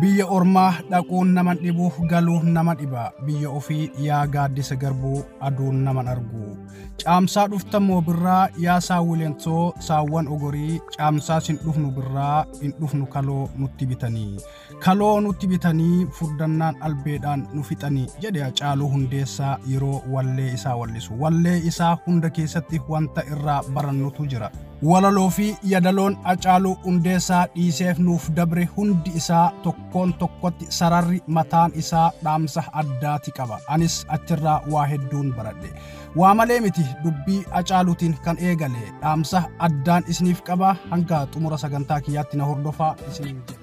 Biyya ormaa dhaquun naman dhibu galuun nama dhiba biyya ofii yaa gaaddisa garbuu aduun naman argu caamsaa dhufta moo birraa yaa saawwileen too saawwan ogorii caamsaas hin dhufnu birraa hin dhufnu kaloo nutti bitanii kaloo nutti bitanii furdannaan albeedhaan nu fixanii jedhe Hacaaluu Hundeessaa yeroo wallee isaa wallisu wallee isaa hunda keessatti wanta irraa barannutu jira. Walaloo fi yadaloon Acaaluu Hundeessaa dhiiseef nuuf dabre hundi isaa tokkoon tokkotti sararri mataan isaa dhaamsa addaati qaba. Anis achirraa waa hedduun baradhe. Waa malee miti dubbii Acaaluutiin kan eegale dhaamsa addaan isiniif qaba hanga xumura sagantaa kiyyaatti na hordofaa isiniin jedha.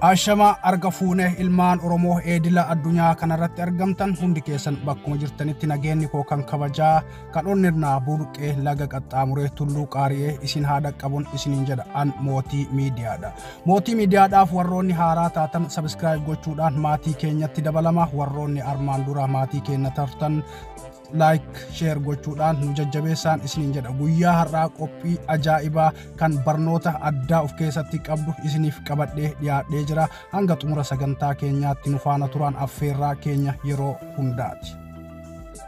Ashamaa arga fuune ilmaan Oromoo eedila addunyaa kanarratti argamtan hundi keessan bakkuma jirtanitti nageenni koo kan kabajaa kan onnirnaa burqee laga qaxxaamuree tulluu qaari'ee isin haa dhaqqabuun isiniin jedha an mootii miidiyaadha. Mootii miidiyaadhaaf warroonni haaraa taatan sabiskiraayib gochuudhaan maatii keenyatti dabalama warroonni armaan dura maatii keenya tartan like share gochuudhaan nu jajjabeessaan isiniin jedha guyyaa har'aa qophii ajaa'ibaa kan barnoota addaa of keessatti qabdu isiniif qabadhee dhiyaadhee jira hanga xumura sagantaa keenyaatti nu faana turaan affeerraa keenya yeroo hundaati.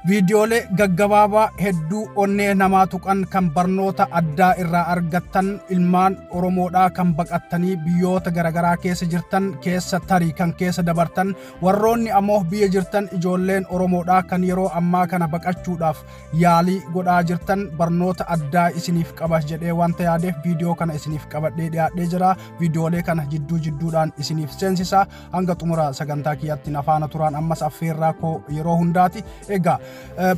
viidiyoolee gaggabaabaa hedduu onnee namaa tuqan kan barnoota addaa irraa argattan ilmaan oromoodhaa kan baqattanii biyyoota garaagaraa keessa jirtan keessa tarii kan keessa dabartan Warroonni ammoo biyya jirtan ijoolleen Oromoodhaa kan yeroo ammaa kana baqachuudhaaf yaalii godhaa jirtan barnoota addaa isiniif qaba jedhee wanta yaadeef viidiyoo kana isiniif qabadhee dhiyaadhee jira. Viidiyoolee kana jidduu jidduudhaan isiniif seensisa. Hanga xumura sagantaa kiyyaatti na faana turaan ammas affeerraa koo yeroo hundaati. Egaa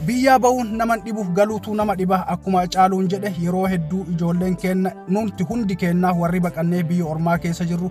biyyaa ba'uun naman dhibuuf galuutu nama dhiba akkuma caaluun jedhe yeroo hedduu ijoolleen keenna nuti hundi keennaa warri baqannee biyya ormaa keessa jirru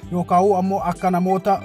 yookaa'uu ammoo akka namoota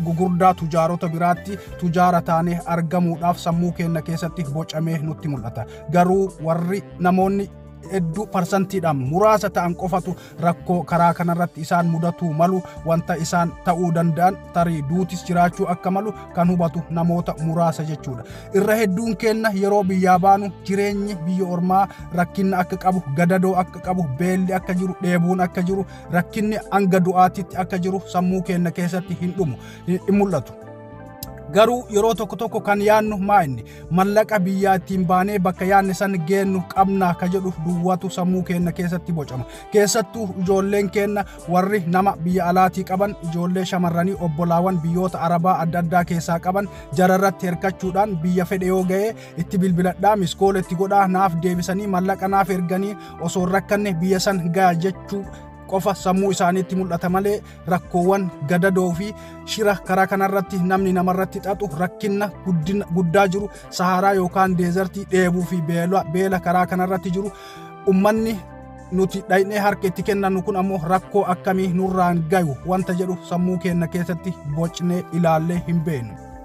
gugurdaa tujaarota biraatti tujaara taanee argamuudhaaf sammuu keenya keessatti bocamee nutti mul'ata. Garuu warri namoonni hedduu parsantiidhaan muraasa ta'an qofatu rakkoo karaa kanarratti isaan mudatuu malu wanta isaan ta'uu danda'an tarii duutis jiraachuu akka malu kan hubatu namoota muraasa jechuudha. Irra hedduun keenya yeroo biyyaa baanu jireenyi biyya ormaa rakkinna akka qabu, gadadoo akka qabu, beelli akka jiru, dheebuun akka jiru rakkinni hanga du'aatitti akka jiru sammuu keenya keessatti hin dhumu hin mul'atu. Garuu yeroo tokko tokko kan yaadnu maa inni mallaqa biyyaa ittiin baanee bakka yaadne san geennu qabna ka jedhu duwwaatu sammuu keenya keessatti bocama. Keessattuu ijoolleen keenya warri nama biyya alaatii qaban ijoollee shamarranii obbolaawan biyyoota arabaa adda addaa keessaa qaban jararratti hirkachuudhaan biyya fedhe yoo ga'e itti bilbiladhaa miskoola itti godhaa naaf deebisanii mallaqa naaf erganii osoo hin rakkanne biyya san gaya jechuu qofa sammuu isaaniitti mul'ata malee rakkoowwan gadadoo fi shira karaa kanarratti namni namarratti xaxu rakkinna guddaa jiru sahaaraa yookaan deezartii dheebuu fi beela karaa kanarratti jiru ummanni nuti dhaynee harka itti kennannu kun ammoo rakkoo akkamii nurraan gayu wanta jedhu sammuu keenna keessatti bocnee ilaallee hin beeknu.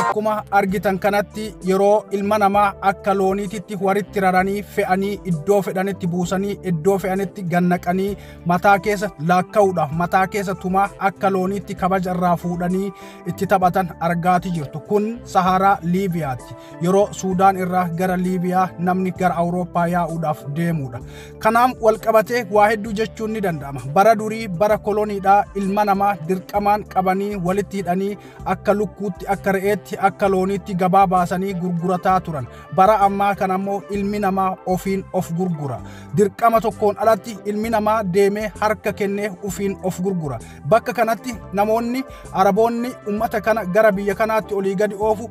Akkuma argitan kanatti yeroo ilma namaa akka looniititti walitti raranii fe'anii iddoo fedhanitti buusanii iddoo fe'anitti gannaqanii mataa keessa laakka'uudha. Mataa keessa tumaa akka looniitti kabaja irraa fuudhanii itti taphatan argaati jirtu. Kun Saharaa Liibiyaati. yeroo Suudaan irraa gara Liibiyaa namni gara Awurooppaa yaa'uudhaaf deemuudha. Kanaan walqabatee waa hedduu jechuun ni danda'ama. Bara durii bara koloniidhaa ilma namaa dirqamaan qabanii walitti hidhanii akka lukkuutti akka re'eetti akka looniitti gabaa baasanii gurgurataa turan. Bara ammaa kana immoo ilmi namaa ofiin of gurgura. Dirqama tokkoon alatti ilmi namaa deemee harka kennee ofiin of gurgura. Bakka kanatti namoonni Araboonni uummata kana gara biyya kanaatti olii gadi oofu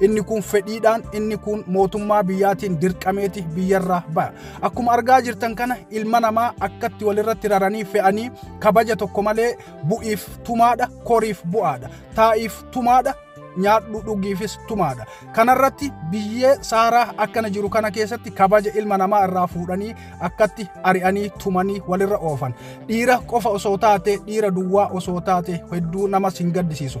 inni kun fedhiidhaan inni kun mootummaa biyyaatiin dirqameeti biyyarraa ba'a akkuma argaa jirtan kana ilma namaa akkatti walirratti raranii fe'anii kabaja tokko malee bu'iif tumaadha koriif bu'aadha taa'iif tumaadha nyaadhu dhugiifis tumaadha kanarratti biyyee saaraa akkana jiru kana keessatti kabaja ilma namaa irraa fuudhanii akkatti ari'anii tumanii walirra oofan dhiira qofa osoo taate dhiira duwwaa osoo taate hedduu namas hin gaddisiisu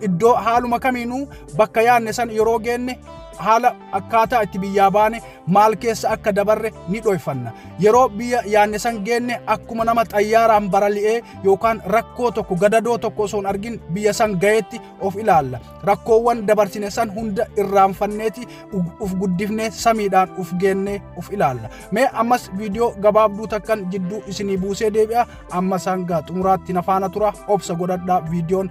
Iddoo haaluma kamiinuu bakka yaadne san yeroo geenne haala akkaataa itti biyyaa baane maal keessa akka dabarre ni dhoyfanna. Yeroo biyya yaadne san geenne akkuma nama xayyaaraan barali'ee yookaan rakkoo tokko gadadoo tokko osoo hin argin biyya san gaheetti of ilaalla. Rakkoowwan dabarsine san hunda irraanfanneeti uf guddifnee samiidhaan uf geennee uf ilaalla. Mee ammas viidiyoo gabaabduu takkan jidduu isinii buusee deebi'a. Amma sangaa xumuraatti na faana tura obsa godhadhaa viidiyoon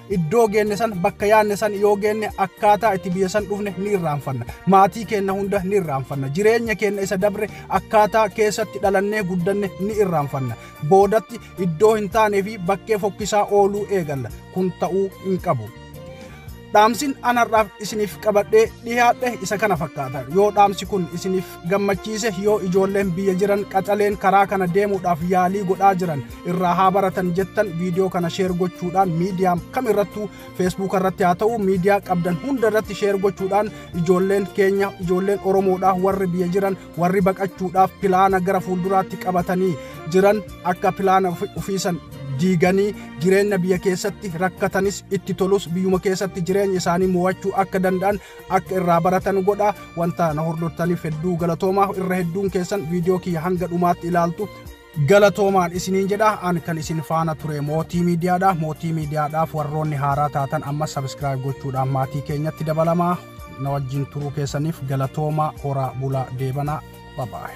iddoo geenne san bakka yaanne san yoo geenne akkaataa itti biyya san dhufne ni irraanfanna maatii keenna hunda ni irraanfanna jireenya keenna isa dabre akkaataa keessatti dhalannee guddanne ni irraanfanna boodatti iddoo hin taanee fi bakkee fokkisaa ooluu eegalla kun ta'uu hin qabu. Dhaamsin anarraaf isiniif qabadhee dhiyaadhe isa kana fakkaata yoo dhaamsi kun isiniif gammachiise yoo ijoolleen biyya jiran qaxaleen karaa kana deemuudhaaf yaalii godhaa jiran irraa haa baratan jettan viidiyoo kana sheer gochuudhaan miidiyaa kam irrattuu feesbuuka irratti haa ta'u miidiyaa qabdan hunda irratti sheer gochuudhaan ijoolleen keenya ijoolleen oromoodhaa warri biyya jiran warri baqachuudhaaf pilaana gara fuulduraatti qabatanii jiran akka pilaana ofiisan diiganii jireenya biyya keessatti rakkatanis itti tolus biyyuma keessatti jireenya isaanii mo'achuu akka danda'an Akka irraa baratan godhaa. Wanta na hordoftaniif hedduu galatoomaa. Irra hedduun keessan viidiyoo kiyya hanga dhumaatti ilaaltu. Galatoomaan isiniin jedha an kan isin faana ture mootii miidiyaadha. Mootii miidiyaadhaaf warroonni haaraa taatan amma sabiskiraayib gochuudhaan maatii keenyatti dabalamaa na wajjin turuu keessaniif galatoomaa horaa bulaa deebanaa babaa'e.